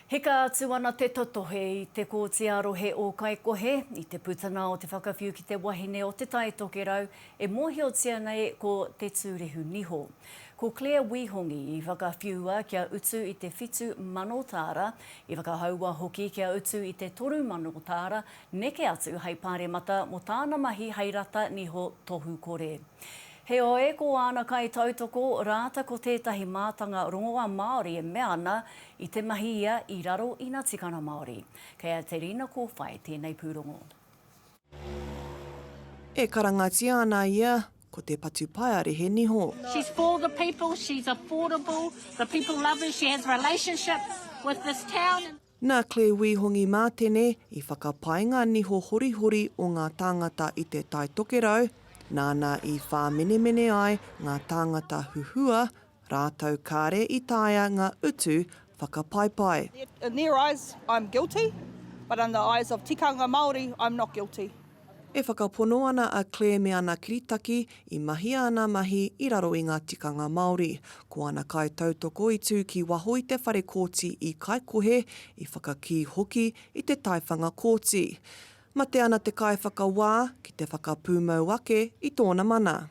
Hika atu ana te totohe i Te Kooti ā-Rohe o Kaikohe i te putanga o te whakawhiu ki te wahine o Te Tai Tokerau e mōhiotia nei ko Te Tūrehu Niho. Ko Claire Wihongi i whakawhiua kia utu i te whitu mano tāra, i whakahaua hoki kia utu i te toru mano tāra neke atu hei pāremata mō tāna mahi hei rata niho tohu kore. Heoi, ko āna kaitautoko rāta ko tētahi mātanga rongoā Māori e mea ana I te mahi ia i raro i na tikanga Maori. Kei a Terina Kowhai tēnei pūrongo. E karangatia ana ia ko te patupaearehe niho. She's for the people, she's affordable, the people love her, she has relationships with this town and. Nā Claire Wī Hongi Mātene i whakapae ngā niho horihori o ngā tāngata i Te Tai Tokerau, nāna i whāmenemene ai ngā tāngata huhua Rātou kāre i taea ngā utu whakapaipai. In their eyes I'm guilty, but in the eyes of tikanga Māori I'm not guilty. E whakapono ana a Claire me ana kiritaki i mahia ana mahi i raro i ngā tikanga Māori. Ko ana kaitautoko i tū ki waho i te whare kōti i Kaikohe, i whakakī hoki i te taiwhanga kōti. Mate ana te kaiwhakawā ki te whakapūmau ake i tōna mana.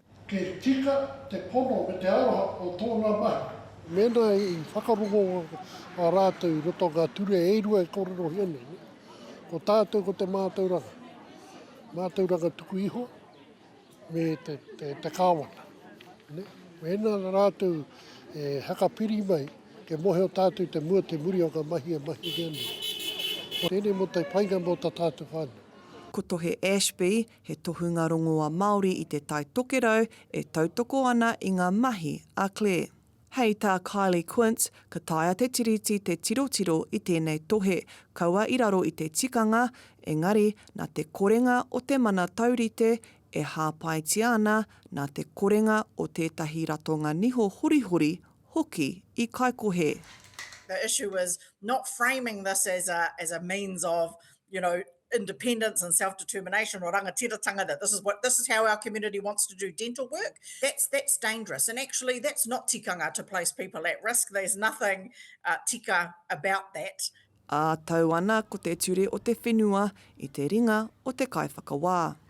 Kei tika te pono me te aroha o tōna mahi. Mēnā i whakarongo a rātou i roto o ngā ture e rua e kōrerohia nei, ko tātou ko te mātauranga, mātauranga tuku iho me te, te, te kāwana. Ne? Mēnā rātou e hakapiri mai, ke mohe o tātou te mua te muri o ngā mahi e mahi nei. Tēnei mō te painga mō tā tātou whānau. Ko Tohe Ashby, He tohunga rongoa Māori i Te Tai Tokerau e tautoko ana i ngā mahi a Claire. Hei tā Kylie Quince, ka taea te Tiriti te tirotiro i tēnei tohe, kaua i raro i te tikanga, engari nā te korenga o te mana taurite e hāpaitia ana, nā te korenga o tētahi ratonga niho horihori hoki i kaikohe. The issue is not framing this as a means of you know, independence and self-determination or rangatiratanga that this is what this is how our community wants to do dental work that's that's dangerous and actually that's not tikanga to place people at risk there's nothing uh, tika about that ā tau ana ko te ture o te whenua i te ringa o te kaiwhakawā.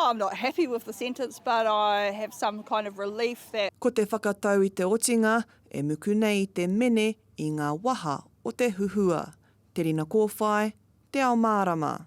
Oh, I'm not happy with the sentence, but I have some kind of relief that. Ko te whakatau i te otinga e muku nei i te mene i ngā waha o te huhua, te rina kōwhai, te ao mārama.